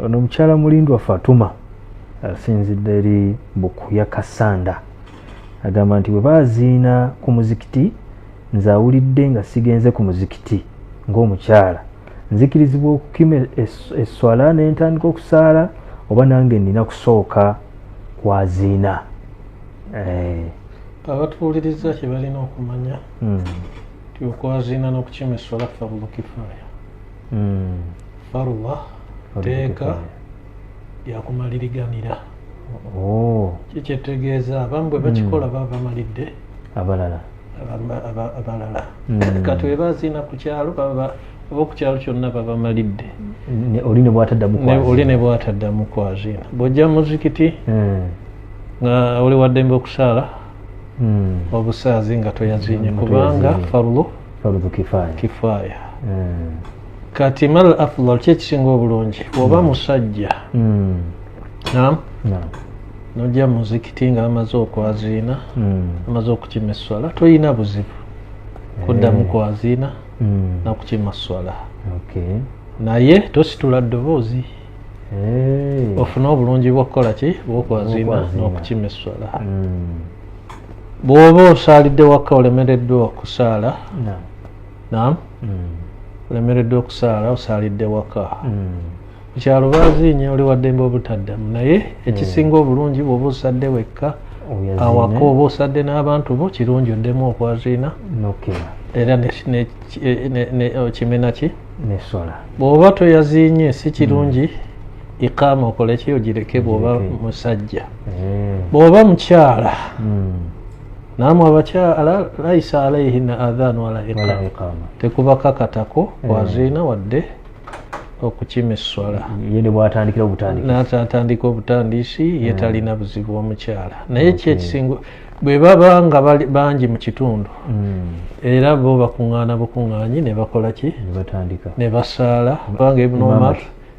ono mukyala mulindwa fatuma asinzidde eri bukuya kasanda agamba nti bwe baziina ku muzikiti nze awulidde nga sigenze ku muzikiti ng'omukyala nzikirizibwa okukima esswala ne ntandika okusaala oba nange nina kusooka kwaziina eh. abatuwuliriza kye balina okumanya hmm. ti okwaziina n'okukima esswala fabubukifaaya hmm. farwa teeka yakumaliriganira oh. kikyetegeeza abamu bwe bakikola hmm. baba bamalidde abalala abalala hmm. kati weba ziina ku kyalo baba oba ku kyalo kyonna babamalidde oli ne bwataddamu kwaziina bwojja muzikiti nga oli waddembe okusaala obusaazi nga toyazinye kubanga farlo farudhu kifaya kifaya mm. kati mal afdal kyekisinga obulungi oba hmm. musajja mm. nam no. nojja muzikiti nga amaze okwaziina mm. amaze okukima esswala toyina buzibu kuddamu eh. kwaziina mm. nakukima swala okay. naye tositula ddoboozi hey. Eh. ofune obulungi bwokukola ki bwokwaziina nokukima esswala mm. bwoba osaalidde wakka olemereddwa okusaala nam hmm. olemereddwa okusaala osaalidde waka kyalubaazinye oli waddembe obutaddamu naye ekisinga obulungi bwoba osadde wekka awaka oba osadde n'abantu bo kirungi oddemu okwaziina era okimena ki bw'oba toyaziinye si kirungi mm. ikaama okoleki ogireke bw'oba musajja eh. bwoba mukyala hmm. namwe abakyala laisa alaihina adhan wala iqama tekubakakatako eh. waziina wadde okukima esswala natandika obutandiisi ye hmm. talina buzibu omukyala naye ki ekisingo bwe baba nga bangi mu kitundu hmm. era bo bakuŋŋaana bukuŋŋaanyi ne bakola ki ne basaala kubanga ibnu omar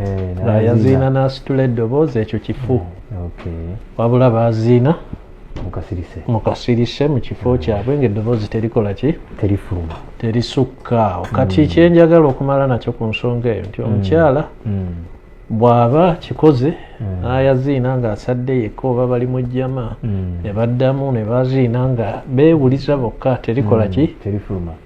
eh, yaziina n'asitula eddoboozi ekyo kifu hmm, wabula baziina mukasirise mu kifo hmm. kyabwe ngaeddoboozi terikola ki terifuluma terisukka awo kati hmm. kyenjagala okumala nakyo ku nsonga eyo nti omukyala bw'aba kikoze n'ayaziina ng'asadde yekka oba bali mu jjama ne baddamu ne baziina nga beewuliza bokka terikola ki terifuluma